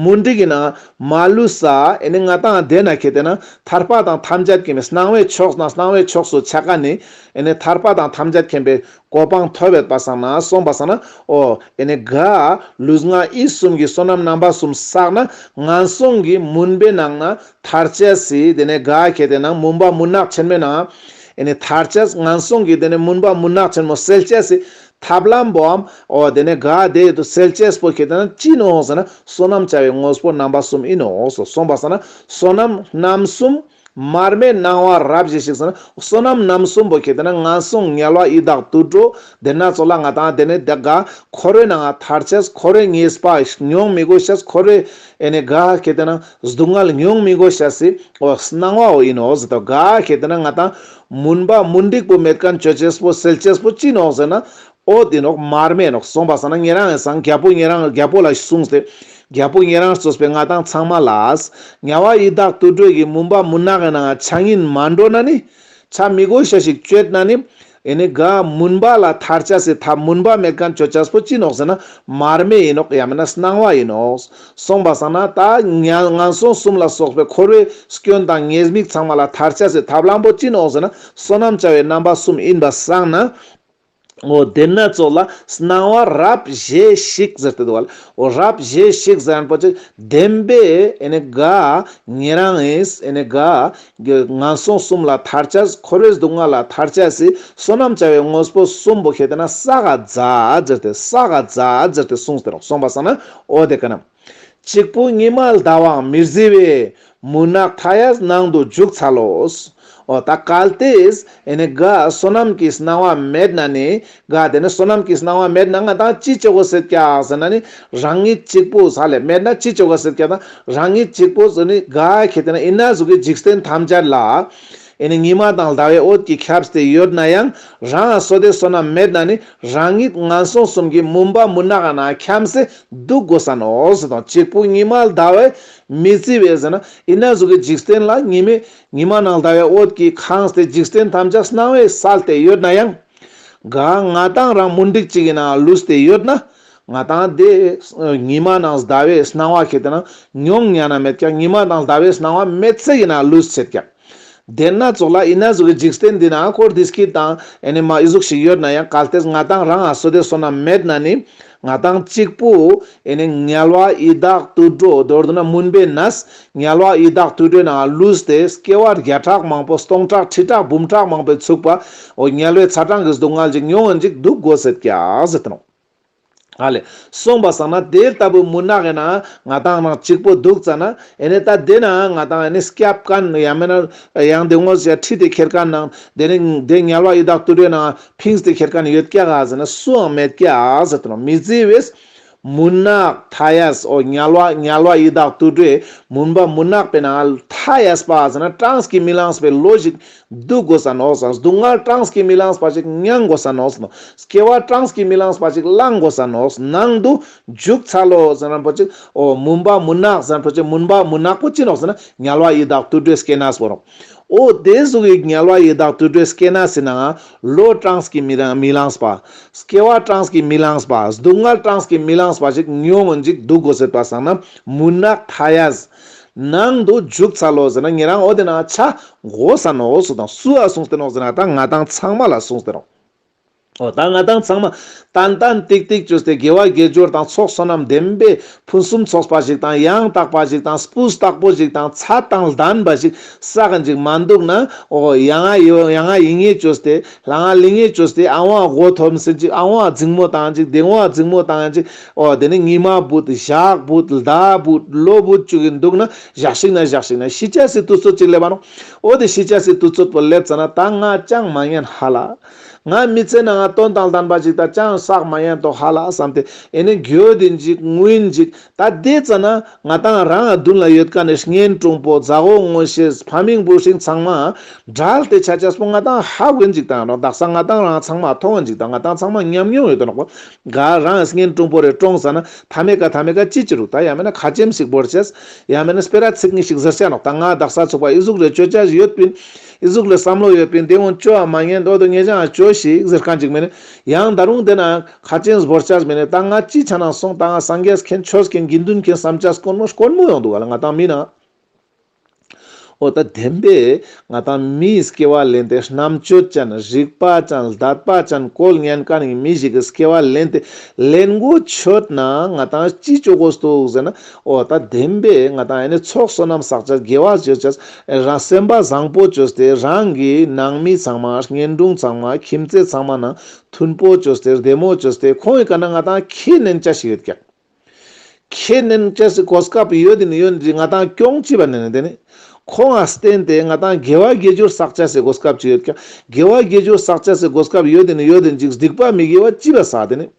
མུན་དྲི་གི་ནང་མ་ལུས་ས་ཨེ་ནི་ང་དང་ལྡན་ན་གལ་ཏེ་ན་ཐར་པ་དང་ཐམས་ཅད་ཀྱི་མི་སྣང་བའི་ཕྱོགས་ན་སྣང་བའི་ཕྱོགས་སུ་ཆ་ག་ནི་ཨེ་ནི་ཐར་པ་དང་ཐམས་ཅད་མཁྱེན་པའི་གོ་འཕང་མཐོ་བའི་པ་སངས་ན་སོང་པ་སངས་ན་ཨོ་ཨེ་ནི་དགའ་ལུས་ངག་ཡིད་གསུམ་གྱི་བསོད་ནམས་རྣམ་པ་གསུམ་བསགས་ན་ངན་སོང་གི་མུན་པའི་ནང་ན་མཐར་སྐྱེས་སུ་དེ་ནས་དགའ་བྱེད་དེ་རྣམས་མུན་པ་མུན་ནག་ཆེན་མོའི་ནང། ཨེ་ནས་མཐར་སྐྱེས་ངན་སོང་གི་དེ་ནས་མུན་པ་མུན་ནག་ཆེན་མོ་སེལ་སྐྱེས་སུ། ཐབས་ལམ་པོའམ། འོ་དེ་ནས་དགའ་བདེ་ཡོད་དོ་སེལ་སྐྱེས་པོ་ཁྱེད་དེ་རྣམས་ཅི་ནུས་འོངས་ཟེར་ན་བསོད་ནམས་བྱ་བའི་དངོས་པོ་རྣམ་པ་གསུམ་ཨེ་ནུས་འོངས་སོ་གསུངས་པ་ཟེར་ན་བསོད་ནམས་རྣམ་གསུམ། མར་མེ་སྣང་བ་རབ་ཞི་ཞིག་ཟེར་ན་བསོད་ནམས་རྣམ་གསུམ་པོ་ཁྱེད་དེ་རྣམས་ངན་སོང་ངལ་བ་ཡི་དྭགས་དུད་འགྲོ་དེ་སྣ་ཚོགས་ལ་ང་དང་དེ་ནས་དགའ། འཁོར་བའི་ནང་མཐར་སྐྱེས་འཁོར་བའི་ངེས་པ་མྱོང་མི་དགོས་ཤེས་འཁོར་བའི། ཨེ་ནས་གཱ་ཧ་གྷེ་ཏེ་ན་སྡུག་བསྔལ་ཉུང་མི་དགོས་བྱ་སི་འོ་སྣང་བ་འོ་ཡིན་འོ་ཟི་དོ་གཱ་ཧ་གྷེ་ཏེ་ན་ང་དང་མུན་པ་མུན་འགྲིག་པོ་མེད་གཱན་གྱོད་ཅེས་པོ་སེལ་ཅེས་པོ་ཅིན་འོ་ཟེར་ན་འོ་དེ་ནོག་མར་མེ་ནོག་སོང་པ་ས་ན་ངེད་རང་ངས་སང་རྒྱལ་པོ་ངེད་རང་རྒྱལ་པོ་ལ་གསུངས་ཏེ་རྒྱལ་པོ་ངེད་རང་གཙོས་པའི་ང་དང་ཚང་མ་ལའས་ངལ་བ་ཡི་དྭགས་དུད་འགྲོས་ཀྱི་མུན་པ་མུན་ནག་གི་ནང་ཆ་ཉིན་མ་འགྲོ་ན་ནི་ཆ་མི་དགོས་བྱ་ཞིག་གྱོད་ན་ནི་ཨེ་ནི་ག་མུན་པ་ལ་ཐར་ཆ་སི་ཐ་མུན་པ་མེད་ག་མཆོད་ཆ་སྤོ་ཅི་ནོག་ཟེར་ན་མར་མེ་ཡིན་ནོག་ཡ་མེད་ན་སྣང་བ་ཡིན་ནོག་གསུངས་པ་སང་ན་ད་ངན་སོང་གསུམ་ལ་སོགས་པའི་འཁོར་བའི་སྐྱོན་དང་ཉེས་དམིགས་ཚང་མ་ལ་ཐར་ཆ་སི་ཐ་བླང་པོ་ཅི་ནོག་ཟེར་ན་བསོད་ནམས་བྱ་བའི་རྣམ་པ་གསུམ་ཡིན་པ་སང་ན་འོ་དེ་ནི་ཚོགས་ལ་སྣང་བ་རབ་བཞེས་ཤིག་ཟེར་ཏེ་འདུག་བ་ལ་འོ་རབ་བཞེས་ཤིག་ཟེར་ན་པོ་ཅི་བདེན་པས་ཨེ་ནི་ག་ངེད་རང་ངས་ཨེ་ནི་ག་གི་ངན་སོང་གསུམ་ལ་ཐར་བྱ། འཁོར་བའི་སྡུག་བསྔལ་ལ་ཐར་བྱ། བསོད་ནམས་བྱ་བའི་དངོས་པོ་གསུམ་པོ་ཤེས་ཏེ་ན་ས་ག་བཛྲ་ཛིར་ཏེ་ས་ག་བཛྲ་ཛིར་ཏེ་གསུངས་ཏེ་རོ། གསུངས་པ་སང་ན་ཨོ་དེ་ཀ་ན། གཅིག་པུ་ཉི་མ་ཟླ་བའང་མི་བཟི་བས། མུན་ནག་མཐའ་ཡས་ནང་དུ་འཇུག་འཚལ་ལོ། ཨོ་ད་གལ་ཏེ་ཨེ་ནི་གཱ་བསོད་ནམས་ཀྱིས་གནང་བ་མེད་ན་ནི་གཱ་དེ་ནི་བསོད་ནམས་ཀྱིས་གནང་བ་མེད་ན་ང་དང་ཅི་བྱེད་གོ་ཟེར་ཀྱག་ཟེར་ན་ནི་རང་ཉིད་གཅིག་པུ་ས་ལས་མེད་ན་ཅི་བྱེད་གོ་ཟེར་ཀྱག་དང་རང་ཉིད་གཅིག་པུ་ཟེར་ནི་གཱ་ཁྱེད་དེ་ན་ཡིན་ན་གཟུགས་ཀྱི་འཇིག་རྟེན་ཐམས་ཅད་ལ་ཨེ་ནི་ཉི་མ་དང་ཟླ་བའི་འོད་ཀྱིས་ཁྱབ་སྟེ་ཡོད་ན་ཡང་རང་ལ་སོ་དེ་བསོད་ནམས་མེད་ན་ནི་རང་ཉིད་ངན་སོང་གསུམ་གྱི་མུན་པ་མུན་ནག་ན་འཁྱམས་སེ་འདུག་གོ་ས་ནོ་ཟེར་དང་གཅིག་པུ་ཉི་མ་ལ་ཟླ་བས་མི་བརྩི་བས་ཟེར་ན་ཡིན་ན་གཟུགས་ཀྱི་འཇིག་རྟེན་ལ་ཉི་མས་ཉི་མ་ནག་ལྟ་བའི་འོད་ཀྱིས་ཁང་སྟེ་འཇིག་རྟེན་ཐམས་ཅད་སྣང་བའི་སལ་ཏེ་ཡོད་ན་ཡང། ག་ང་དང་རང་མུན་འགྲིག་ཅིག་ཡིན་ན་ལུས་ཏེ་ཡོད་ན། ང་དང་དེ། ཉི་མ་ནག་ཟླ་བའི་སྣང་བ་ཁེ་དེ་ན་མྱོང་ཉན་ན་མེད་ཀྱང་ཉི་མ་དང་ཟླ་བའི་སྣང་བ་མེད་ཚད་ཡིན་ན་ལུས་ཚད་ཀྱང། དེ་སྣ་ཚོགས་ལ་ཡིན་ན་གཟུགས་ཀྱི་འཇིག་རྟེན་འདི་ན་ཀོར་དིས་ཀི་དང་ཨེ་ནི་མ་ཨི་གཟུགས་ཤིག་ཡོད་ན་ཡང་གལ་ཏེ་ང་དང་རང་ཨ་སོ་དེ་སོ་ན་མེད་ན་ནི། ང་དང་གཅིག་པུ་ངལ་བ་ཡི་དྭགས་དུད་འགྲོ་མདོར་ན་མུན་པའི་ནད་ངལ་བ་ཡི་དྭགས་དུད་འགྲོའི་ནང་ལུས་ཏེ་སྐྱེ་བ་བརྒྱ་ཕྲག་མང་པོ་སྟོང་ཕྲག་ཁྲི་ཕྲག་འབུམ་ཕྲག་མང་པོའི་ཚུགས་པ་འོ་ངལ་བའི་ཚ་གྲང་གི་སྡུག་བསྔལ་ཅིག་མྱོང་འོན་ཅིག་སྡུག་དགོས་ཟེར་ཀྱ་ཟེར་ཏེ་ནག་ལས་སོང་བ་བསམ་ན་དེ་ལྟ་བུའི་མུན་ནག་ཡིན་ན་ང་དང་ནང་གཅིག་པུ་འདུག་ཙང་ན་ད་དེ་ན་ང་དང་སྐྱབས་ཀན་ཡང་མེད་ན་ཡང་དེ་ངོ་ཤེས་ཁྲིད་དེ་ཁྱེར་ཀན་ན་དེ་ནི་དེ་ངལ་བ་ཡི་དྭགས་དུད་འགྲོའི་ནང Things དེ་ཁྱེར་ཁ་ནས་ཡོད་སྐྱ་ག་ཟེར་ན་སུའང་མེད་སྐྱ་ཟེར་དོན་མི་བརྩི་བས། མུན་ནག Thias འོ་ཉལ་བ་ཉལ་བ་ཡི་དྭགས་དུད་འགྲོས་མུན་པ་མུན་ནག་པས་ན Thias པ་ཟེར་ན་གྲངས་ཀྱིས་མི་ལངས་པའི་ལོ་ཞིག་སྡུད་དགོས་ས་ནོག་ཟ་སྡུག་བསྔལ་གྲངས་ཀྱིས་མི་ལངས་པ་ཞིག་མྱང་དགོས་ས་ནོག་ཟ་སྐྱེ་བ་གྲངས་ཀྱིས་མི་ལངས་པ་ཞིག་བླང་དགོས་ས་ནོག་ཟ་ནང་དུ་འཇུག་ཚར་ལོ་ཟེར་ན་ཕོ་ཅིག་འོ་མུན་པ་མུན་ནག་ཟེར་ན་ཕོ་ཅིག་མུན་པ་མུན་ནག་པོ་ཅི་ནོག་ཟེར་ན་ཉལ་བ་ཡི་དྭགས་དུད་འགྲོས་སྐྱེ་ན་སོ་རོག། ཨོ་དེ་གཟུགས་ཡིག་ཉལ་བ་ཡི་དྭགས་དུད་འགྲོའི་སྐྱེ་ན་སྲིད་ན། ལོ་གྲངས་ཀྱིས་མི་མི་ལངས་པ། སྐྱེ་བ་གྲངས་ཀྱིས་མི་ལངས་པ། སྡུག་བསྔལ་གྲངས་ཀྱིས་མི་ལངས་པ་ཞིག་ཉོན་མོངས་འཇིག་སྡུག་གོ་ཟེར་བ་བསམ་ན་མུན་ནག་མཐའ་ཡས། ནང་དུ་འཇུག་ཚར་ལོ་ཟེར་ན་ངེད་རང་ཨོ་དེ་ན་ཆ། འོ་ས་ནོ་ཟུག་དང་སུ་ཨ་ཟུག་སྟེ་ནོ་ཟེར་ན་ད་ང་དང་ཚང་མ་ལ་ཟུག་སྟེ་ནོ། ཨོ་ད་ང་དང་ཚང་མ་ཏན་ཏན་ཏིག་ཏིག་བྱོས་ཏེ་དགེ་བ་དགེ་སྦྱོར་དང་ཚོགས་བསོད་ནམས་ལྡན་པས་ཕུན་སུམ་ཚོགས་པ་ཞིག་དང་ཡང་དག་པ་ཞིག་དང་སྤུས་དག་པོ་ཞིག་དང་ཚ་དང་ལྡན་པ་ཞིག་བསགས་འཇིག་མ་འདུག་ན་ཨོ་ཡ་ང་ཡོད་ཡ་ང་ཡིན་ངེས་བྱོས་ཏེ་ལ་ང་ལི་ངེས་བྱོས་ཏེ་ཨང་བ་སྒོ་ཐོབ་ཟིན་ཅིག་ཨང་བ་རྫིང་མོ་དང་ཅིག་གདེང་བ་རྫིང་མོ་དང་ཅིག་ཨོ་དེ་ནས་ཉི་མ་བུད་ཞག་བུད་ཟླ་བུད་ལོ་བུད་བཅུག་གིན་འདུག་ན་བཞག་ཤིག་ན་བཞག་ཤིག་ན་ཤི་ཆ་སི་དུ་ཚོད་ཅིག་སླེབས་པ་ནོ་ཨོ་དེ་ཤི་ཆ་སི་དུ་ཚོད་པོ་སླེབས་ཚ་ན་ད་ང་ཅང་མ་ཉན་ཧ་ལ། ང་མི་ཚེ་ནང་ལ་དོན་དང་ལྡན་པ་ཞིག་དང་ཅང་བསགས་མ་ཡན་དོ་ཧ་ལ་བསམ་སྟེ་ཨེ་ནི་འགྱོད་དེ་འཇིགས་ངུས་འཇིགས་ད་དེ་ཙ་ན་ང་དང་རང་ཨ་བདུན་ལ་ཡོད་ཀ་ནས་གཉེན་གྲོང་པོ་རྫ་ཧོ་ངོ་ཤེས་ཕ་མིང་པོ་ཞིག་ཚང་མ་བྲལ་ཏེ་ཆ་ཆ་སྤུ་ང་དང་ཧ་གོས་འཇིགས་དང་རང་བདག་ས་ང་དང་རང་ཚང་མ་མཐོང་བ་འཇིགས་དང་ང་དང་ཚང་མ་ཉམས་མྱོང་ཡོད་དོ་ནག་པོ་ག་རང་གཉེན་གྲོང་པོ་རེ་བཀྲོངས་ས་ན་ད་མེ་ག་ད་མེ་ག་ཅི་ཅི་རུ་ད་ཡ་མེ་ན་ཁ་ཅེམ་ཞིག་འབོར་ཆེས་ཡ་མེ་ན་སྤེ་ར་ཚིག་གཉིས་ཞིག་ཟིར་བྱ་ནག་ད་ང་བདག་ས་ཚུགས་པ་ཨི་གཟུགས་རེ་ཆོད་ཆ་ཡོད་པིན། ཨི་གཟུགས་ལ་བསམ་བློ་ཡོད་པས་འདི་འོང་ཅོའམ་མ་ཉན་འདོད་དུ་ངེད་ཅག་ལ་བྱོས་ཤིག་ཟེར་མཁན་ཅིག་མེད། ཡང་ད་རུང་དེ་ན་ཁ་ཅན་བཟོ་བོར་བྱས་མི་ནས་ད་ང་ཅི་བྱ་ན་སོང་ད་ང་སངས་རྒྱས་མཁན་ཆོས་མཁན་དགེ་འདུན་མཁན་བསམ་བྱ་སྐོར་མོ་སྐོར་མོ་ཡོང་འདུག་ག་ལ་ང་དང་མི་ནང་འོ་ད་བདེན་པས་ང་དང་མིའི་སྐྱེ་བ་ལེན་ཏེ་རྣམ་དཔྱོད་ཅན་རིག་པ་ཅན་བདག་པ་ཅན་དཀོལ་ངན་དཀར་ཡིན་མི་ཞིག་གིས་སྐྱེ་བ་ལེན་ཏེ་ལེན་དགོས་ཆོད་ན་ང་དང་ཅི་བྱོས་དགོས་འདུག་ཟེར་ན་ཨོ་ད་བདེན་པས་ང་དང་ནི་ཚོགས་བསོད་ནམས་བསགས་བྱ་དགེ་བ་བརྗོད་བྱ། རང་སེམས་དཔའ་བཟང་པོ་བཅོས་ཏེ་རང་གི་ནང་མི་ཚང་མ་བརྙན་སྒྲུང་ཚང་མ་ཁྱིམ་མཚེས་ཚང་མ་ནང་མཐུན་པོ་བཅོས་ཏེ་བདེ་མོ་བཅོས་ཏེ་ཁོང་གི་བཀའ་ན་ང་དང་ཁྱེད་ནན་བཅའ་ཞིག་ཡོད་ཀྱང། ཁྱེད་ནན་བཅའ་ཞིག་གོ་སྐབས་ཡོད་དེ་ནི་ཡོད་འདི་ང་དང་སྐྱོང་བྱེད་པ་ནན་ནན་དེ་ནི། ཁོང་ང་བསྟེན་ཏེ་ང་དང་དགེ་བ་དགེ་སྦྱོར་བསགས་བྱ་ཞིག་གོ་སྐབས་ཅིག་ཡོད་ཀྱང་དགེ་བ་དགེ་སྦྱོར་བསགས་བྱ་ཞིག་གོ་སྐབས་ཡོད་དེ་ནི་ཡོད་དེ་འཇིགས་སྡིག་པ་མི་དགེ་བ་ལྕི་བ་བསགས་དེ་ནི།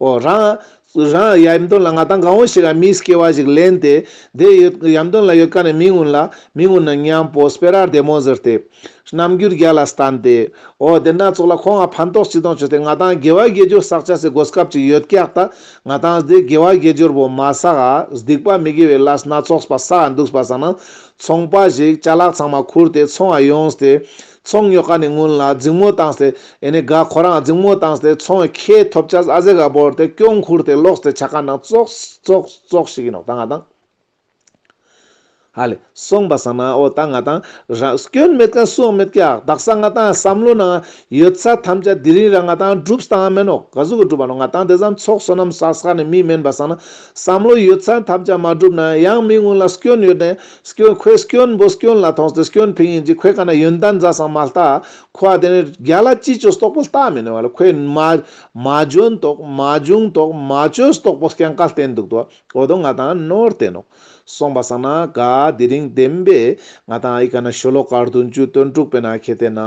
རང། རང། ཡམ་དོན་ལ་ང་དང་གང་བོ་ཞིག་ལ་མིས་སྐྱེ་བ་ཞིག་ལེན་ཏེ། དེ་ཡོད། ཡམ་དོན་ལ་ཡོད་ཀ་ནས་མི་ངུ་ལ། མི་ངུ་ན་སྙམ། པོ་སྤེ་རར་བདེ་མོ་ཟེར་ཏེ། རྣམ་འགྱུར་རྒྱ་ལ་སྟན་ཏེ། འོ་དེ་སྣ་ཚོགས་ལ་ཁོང་ང་ཕན་ཐོགས་ཅི་དང་བྱོས་ཏེ་ང་དང་དགེ་བ་དགེ་སྦྱོར་བསག་བྱ་སའི་སྒོ་སྐབས་ཅིག་ཡོད་ཀྱག་ད། ང་དང་སྡེ་དགེ་བ་དགེ་སྦྱོར་བོ་མ་བསག་ཨ། སྡིག་པ་མི་དགེ་བའི་ལ་སྣ་ཚོགས་པ་བསག་ཨ་འདུག་པ་བསག་ན། ཚོང་པ་ཞིག་བྱ་ལག་ཚང་མ་ཁུར་ཏེ་ཚོང་ཨ་ཡོང་སྟེ། ཚོང་ཉོ་ཁ་ནས་སྔོན་ལ་རྫིང་མོ་བཏང་སྟེ་ཡེ་ནས་དགའ་ཁོ་རང་རྫིང་མོ་བཏང་སྟེ་ཚོང་བའི་ཁེ་ཐོབ་ཆ་ཨ་ཟེ་ག་བོར་ཏེ་སྐྱོང་འཁུར་དེ་ལོགས་སྟེ་ཆ་ཁ་ནང་ཙོག་ཙོག་ཙོག་ཞིག་ཡིན་ནོ་ད་ང་དང། ཧ་ལས་སོང་པ་ཟ་ན་འོ་ད་ང་དང་རང་སྐྱོན་མེད་ཀ་སུའང་མེད་ཀྱ་བདག་ས་ང་དང་བསམ་བློ་ནང་ཡོད་ས་ཐམས་ཅད་དེ་རིང་ར་ང་དང་སྒྲུབས་དང་མེད་ནོ་ག་ཟུག་གི་སྒྲུབ་པ་ནོ་ང་དང་དེ་ཟམ་ཚོགས་བསོད་ནམས་ས་ས་ནས་མི་དམན་པ་ཟ་ན་བསམ་བློ་ཡོད་ས་ཐམས་ཅད་མ་སྒྲུབས་ན་ཡང་མི་སྔོན་ལ་སྐྱོན་ཡོད་ནས། སྐྱོན་ཁོའི་སྐྱོན་འབོ་སྐྱོན་ལ་ཐོངས་སྟེ་སྐྱོན་ཕིང་ཡིན་གྱི་ཁོས་ག་ན་ཡོན་ཏན་མཛའ་ཟང་མ་ལྟ། ཁོ་བ་དེ་ནི་རྒྱ་ལ་ཅི་བྱོས་སྟོག་པོ་ལྟ་མི་ནུས་བ་ལ་ཁོས་མ། མ་འཇོན་དོགས་མ་འཇུངས་དོགས་མ་བྱོས་སྟོག་པོ་སྐྱན་ཀ་བསྟན་འདུག་དོ་འོ་དོ་ང་དང་ནོར་བསྟན་ནོ། སོང་པ་ས་ན་ག་དེ་རིང་བདེན་པས་ང་དང་ཨ་ཡི་ག་ན་ཤོ་ལོ་ཀ་བདུན་ཅུའི་སྟོན་དྲུག་པའི་ན་ཁེ་དེ་ན་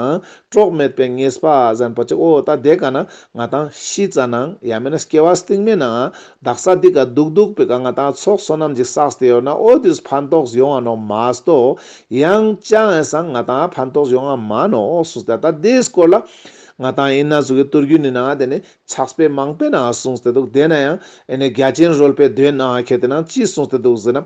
གྲོགས་མེད་པའི་ངེས་པ་གཟན་པོ་ཅིག་ཨོ་ད་དེ་ག་ན་ང་དང་ཤི་རྩ་ནང་ཡ་མེད་ན་སྐྱེ་བ་སྟིང་མེད་ནའང་རྡག་ས་འདི་ག་སྡུག་སྡུག་པི་ག་ང་དང་ཚོགས་གསོ་རྣམས་ཀྱི་སགས་སྟེ་ཡོད་ན་ཨོ་དུས་ཕན་ཐོགས་ཡོང་བ་ནོ་མཱས་ཏོ། ཡང་ལྕགས་ངན་སང་ང་དང་ཕན་ཐོགས་ཡོང་བ་མ་ནོ་གསུངས་སྟེ་ད་དེའི་སྐོར་ལ། ང་དང་ཡིན་ན་ཟུག་གི་བསྟོར་རྒྱུ་ནི་ནང་དེ་ནི་ཆགས་པས་མང་པས་ན་གསུངས་སྟེ་འདུག་དེས་ན་ཡང་ཨེ་ནི་རྒྱ་ཅན་རོལ་པའི་དོན་ནང་ཁྱེད་དེ་ནང་ཅི་གསུངས་སྟེ་འདུག་ཟེར་ན།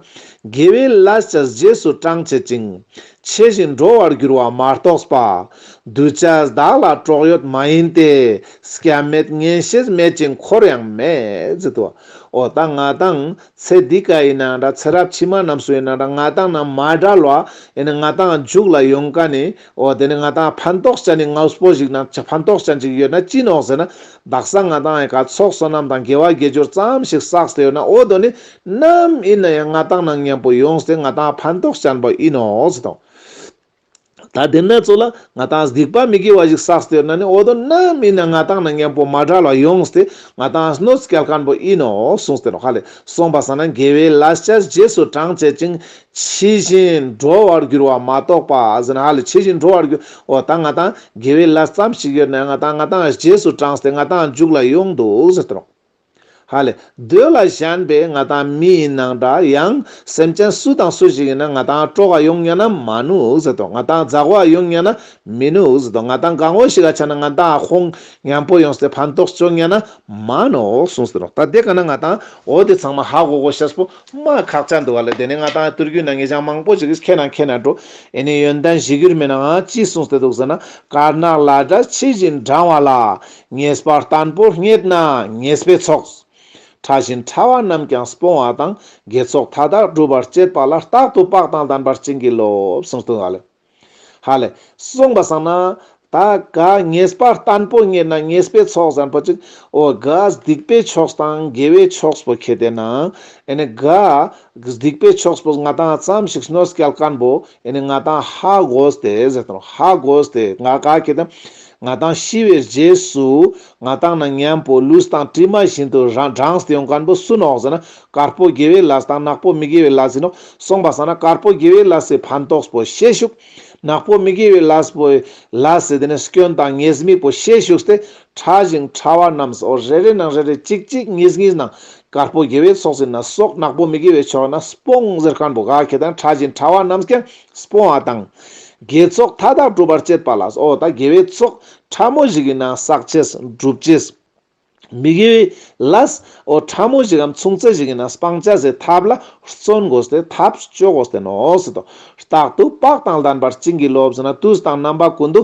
དགེ་བའི་ལས་ཀྱི་རྗེས་སུ་འབྲང་བྱེད་ཅིང། ཆེ་ཞིང་འགྲོ་བར་འགྱུར་བ་མ་རྟོགས་པ། གདུལ་བྱ་བདག་ལ་གྲོགས་ཡོད་མ་ཡིན་ཏེ། སྐྱབས་མེད་ངན་ཤེས་མེད་ཅིང་འཁོར་ཡང་མེད། ཏུ། འོ་ད་ང་དང། ཚེ་འདི་ཀ་ཡིན་ན་འདྲ་ཚེ་རབས་ཕྱི་མ་རྣམས་སུ་ཡིན་ན་འདྲ་ང་དང་ནམ་མ་བྲལ་བ། ཡིན་ན་ང་དང་འཇུག་ལ་ཡོང་ག་ནི། འོ་དེ་ནི་ང་དང་ཕན་ཐོགས་ཅན་ནི་ངའུས་པོ་ཞིག་ན་ཕན་ཐོགས་ཅན་ཅིག་ཡོད་ན་ཅི་ནོག་ཟེར་ན། བདག་སང་ང་དང་ཡི་ག་ཚོགས་བསོད་ནམས་དང་དགེ་བ་དགེ་སྦྱོར་ཙམ་ཞིག་བསགས་ཏེ་ཡོད་ན་འོ་དོ་ནི། ནམ་ཡིན་ན་ཡང་ང་དང་ནང་མཉམ་པོ་ཡོང་སྟེ་ང་དང་ཕན་ཐོགས་བྱ་འབའ་ཡིན་ནོ་ཟེར་དང། ད་ལྡེ་མེད་ཚོ་ལ་ང་དང་སྡིག་པ་མི་དགེ་བ་ཞིག་བསགས་ཟེར་ན་ནི་འོ་དོ་ནམ་ཡིན་ན་ང་དང་ནང་མཉམ་པོ་མ་དགྲ་ལ་ཡོང་སྟེ་ང་དང་གནོད་སྐྱལ་ཁན་པོ་ཡིན་ནོ་གསུངས་ཏེ་རོ་ཁ་ལས་གསུངས་པ་ཟ་ན་འགལ་བའི་ལ་སྤྱད་རྗེས་སུ་འབྲང་བྱེད་ཅིང་ཕྱི་བཞིན་འགྲོ་བར་འགྱུར་བ་མ་གཏོགས་པ་ཟ་ན་ཧ་ལས་ཕྱི་བཞིན་འགྲོ་བར་འགྱུར་འོ་ད་ང་དང་འགལ་བའི་ལ་ཙམ་ཞིག་ཡོད་ན་ང་དང་ང་དང་རྗེས་སུ་འབྲངས་སྟེ་ང་དང་འཇུག་ལ་ཡོང་འདུག་ཟེར་དང། ཧ་ལས། འདོད་ལ་ཞེན་པའི་ང་དང་མི་ཡི་ནང་འདྲ་ཡང། སེམས་ཅན་སུ་དང་སུ་ཞིག་ཡིན་ན་ང་དང་སྤྲོ་བ་ཡོང་ཉན་ན་མ་ནུག་ཟེར་ཏོ་ང་དང་འཛག་བ་ཡོང་ཉན་ན་མི་ནུག་ཟེར་ཏོ་ང་དང་དགའ་བོ་ཞིག་ག་ཆ་ན་ང་དང་ཁོང་ཉན་པོ་ཡོང་སྟེ་ཕན་ཐོགས་བྱུང་ཉན་ན་མ་ནུག་གསུང་ཟེར་རོ་ད་དེ་ག་ན་ང་དང་འོ་དེ་ཚང་མ་ཧ་གོ་གོ་ཤེས་པོ་མ་ཁག་ཅག་འདུག་ག་ལས་དེ་ནས་ང་དང་ཏུར་གུའི་ནང་ངེས་ཅང་མང་པོ་ཞིག་ཁྱེད་ནང་ཁྱེད་ནང་འགྲོ་ཨེ་ནས་ཡོན་ཏན་བཞི་གུར་མེད་ནའང་ཅི་གསུང་སྟེ་འདུག་ཟེར་ན་དཀར་ནག་བླ་གྲྭ་ཕྱི་བཞིན་འབྲང་བ་ལ། ངེས་པར་བརྟན་པོར་རྙེད་ན་ངེས་པའི་ཚོགས། ཕྲ་བཞིན་ཕྲ་བ་རྣམས་ཀྱང་སྤོང་བ་དང་དགེ་ཚོགས་མཐའ་དག་སྒྲུབ་པར་བཅས་པ་ལ་རྟག་ཏུ་དཔག་དང་ལྡན་པར་བྱིན་གྱིས་རློབས། ཧ་ལས། གསུངས་པ་བསམ་ན། ད་ག་ངེས་པར་བརྟན་པོར་རྙེད་ན་ངེས་པའི་ཚོགས་བཟང་པོ་གཅིག། ཨོ་ག་སྡིག་པའི་ཕྱོགས་དང་དགེ་བའི་ཕྱོགས་པོ་ཁྱེད་དེ་ན། ཨེ་ག་སྡིག་པའི་ཕྱོགས་པོ་ང་དང་ཙམ་ཞིག་སྣོད་སྐལ་དཀར་པོ། ཨེ་ང་དང་ཧ་གོ་སྟེ་ཧ་གོ་སྟེ་ང་ག་ཁྱེད་དེ། ང་དང་ཤི་བའི་རྗེས་སུ། ང་དང་ན་མཉམ་པོ་ལུས་དང་གྲིབ་མ་བཞིན་དུ་རང་གྲངས་སྟེང་དཀར་པོ་སུན་ཨོག་ཟེར་ན་དཀར་པོ་དགེ་བའི་ལས་དང་ནག་པོ་མི་དགེ་བའི་ལས་སིན་ཨོག་སོང་པ་སང་ན་དཀར་པོ་དགེ་བའི་ལས་སི་ཕན་ཏོགས་པོ་ཤེད་ཤུགས། ནག་པོ་མི་དགེ་བའི་ལས་སི་པོའི་ལས་སི་དེ་ནས་སྐྱོན་དང་ངེས་དམིགས་པོ་ཤེད་ཤུགས་སྟེ་ཕྲ་ཞིང་ཕྲ་བ་རྣམས་སི་ཨོག་རེ་རེ་ནང་རེ་རེ་གཅིག་གཅིག་གཉིས་གཉིས་ནང་དཀར་པོ་དགེ་བའི་ཚོགས་སིན་ན་སོགས་ནག་པོ་མི་དགེ་བའི་ཕྱོགས་ན་སི་པོང་ཟེར་སྐམ་པོ་ག་གེ་དང་ཕྲ་ཞིང་ཕྲ་བ་རྣམས་ཀྱང་སྤོང་བ་དང། དགེ་ཚོགས་མཐའ་དག་སྒྲུབ་པར་བྱེད་པ་ལ་སོགས་དང་དགེ་བའི་ཚོགས་ཕྲ་མོ་ཞིག་ཡིན་ན་བསགས་བྱའི་སྒྲུབ་བྱེད། མི་དགེ་བའི་ལ་སོགས་ཕྲ་མོ་ཞིག་གམ་མཚུངས་ཚད་ཞིག་ཡིན་ན་སྤང་བྱ་སའི་ཐབས་ལ་བརྩོན་དགོས་སྟེ་ཐབས་སྤྱོད་དགོས་སྟེ་ནོ། རྟག་ཏུ་དཔག་དང་ལྡན་པར་བྱིན་གྱིས་རློབས་ཟིན་ན་དུས་དང་རྣམ་པ་ཀུན་ཏུ་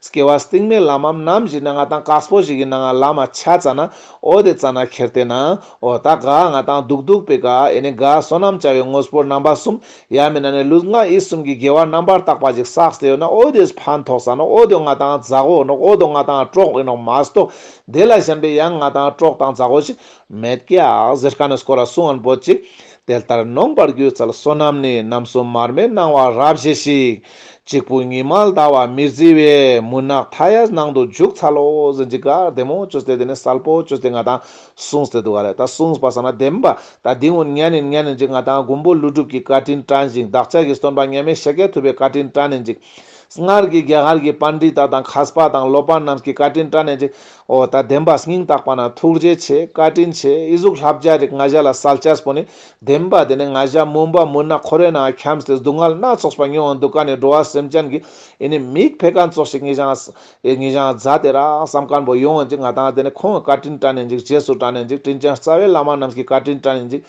སྐྱེ་བ་སྟིང་མའི་ལམ་མམ་ནམ་བཞི་ན་ང་དང་ཀགས་སྤོ་བཞི་གི་ནང་ང་ལ་མ་ཆ་ཙ་ན་ཨོ་དེ་ཙ་ན་ཁེར་དེ་ན་ཨོ་ད་གགས་ང་དང་སྡུག་སྡུག་པའི་གགས་ཨེ་ནི་གགས་བསོད་ནམས་བྱ་བའི་དངོས་སྤོར་རྣམ་པ་གསུམ་ཡ་མི་ན་ནས་ལུས་ངག་ཡིད་གསུམ་གྱི་དགེ་བ་རྣམ་པར་དག་པ་ཞིག་བསགས་ཏེ་ཡོད་ན་ཨོ་དེས་ཕན་ཐོགས་ཙ་ན་ཨོ་དེ་ང་དང་ཛག་ཨོ་ནོག་ཨོ་དོ་ང་དང་ཀྲོག་ཨེ་ནོག་མ་གཏོགས་དེ་ལ་ཞེན་པའི་ཡང་ང་དང་ཀྲོག་དང་ཛག་ཨོ་ཞིག་མེད་ཀགས་ཟེར་ཀ་ནས་སྐོར་ལ་སུ་ཨན་པོ་ཅིག་དེ་ལྟར་ནོངས་པར་གྱུར་ཚལ་བསོད་ནམས་ནི་ནམ་གསུམ་མར་མེ་སྣང་བ་རབ་བཞེས་ཤིག། གཅིག་པུ་ཉི་མ་ཟླ་བ་མེར་བརྫི་བས་མུན་ནག་མཐའ་ཡས་ནང་དུ་འཇུག་ཚར་ལོ། གཟི་འཇིགས་དགའ་བདེ་མོ་བཅུ་སྟེ་དེ་ནས་སལ་པོ་བཅུ་སྟེ་ང་དང་གསུངས་ཏེ་འདུག་ག་རེད་ད་གསུངས་པ་ས་ན་བདེན་པ་ད་འདི་ངོ་ཉལ་ནས་ཉལ་ནས་འཇིག་ང་དང་མགོན་པོ་ཀླུ་སྒྲུབ་ཀྱིས་བཀའ་དྲིན་དྲན་ཞིང་བདག་ཅག་གི་བསྟོན་པ་ངལ་མེད་ཞལ་སྐྱེལ་ཐུབ་པའི་བཀའ་དྲིན་དྲན་ནས་འཇིག། སྔར་གྱི་རྒྱ་གར་གྱི་པཱན་ཏྲི་ཏཱ་དང་ཁཱས་པ་དང་སློབ་པ་རྣམས་ཀྱི་བཀའ་དྲིན་དྲན་ནས་འཇིག། ཨོ་ད་བདེན་པ་སྙིང་བརྟགས་པ་ན་ཐུགས་རྗེ་ཆེ་བཀའ་དྲིན་ཆེ་ཨི་གཟུགས་ལྷ་བརྒྱ་རིགས་ལྔ་བཞག་ལ་གསལ་བྱས་པོ་ནི་བདེན་པ་དེ་ནས་ང་བཞག་མུན་པ་མུན་ནག་ཁོ་རའི་ནང་འཁྱམས་སྟེ་སྡུག་བསྔལ་སྣ་ཚོགས་པ་མྱོང་འདུག་ག་ནས་འགྲོ་བ་སེམས་ཅན་གྱི་ཨི་ནི་མིག་འཕེལ་ག་ཚོགས་ཤིག་ངེ་བྱང་ཨི་ངེ་བྱང་རྫ་དེ་རགས་བསམ་སྐམ་པོ་ཡོང་འཇིག་ང་དང་དེ་ནས་ཁོང་བཀའ་དྲིན་བཀྲ་ནས་འཇིག་རྗེས་སུ་བཀྲ་ནས་འཇིག་དྲིན་ཅན་རྩ་བའི་བླ་མ་རྣམས་ཀྱི་བཀའ་དྲིན་བཀྲ་ནས་འཇིག།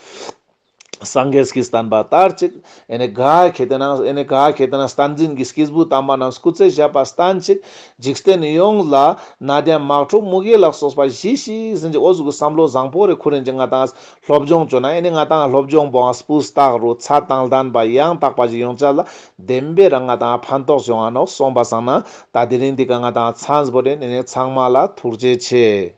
སངས་རྒྱས་ཀྱིས་བསྟན་པ་ལྟར་གཅིག། ཨེ་ནི་གཱ། གལ་ཏེ་ན། ཨེ་ནི་གཱ། གལ་ཏེ་ན་བསྟན་འཛིན་གྱི་སྐྱེས་བུ་དམ་པ་རྣམས་སྐུ་ཚེ་བཞི་པར་སྟན་གཅིག། འཇིག་རྟེན་ནས་ཡོངས་ལ། ན་དན་མག་ཕྲུག་དམུ་གེ་ལག་སོགས་པ་བཞི་ཞིག་ཟིན་ཅིག་ཨོ་གཟུགས་ཀྱི་བསམ་བློ་བཟང་པོ་རེ་ཁུ་རིན་གྱིས་ང་དང་སློབ་སྦྱོང་བྱོས་ན་ཨེ་ནི་ང་དང་སློབ་སྦྱོང་པོའང་སྤུས་རྟགས་རུ་ཚ་དང་ལྡན་པ་ཡང་དག་པ་ཞིག་ཡོང་བྱ་ལ་བདེན་པའི་རང་ང་དང་ཕན་ཐོགས་བྱུང་བ་ནོ་གསུངས་པ་བཟང་ན་ད་དེ་རིང་འདི་ག་ང་དང་ཚངས་པོ་རེ་ནས་ནས་ཚང་མ་ལ་ཐུགས་རྗེ་ཆེ།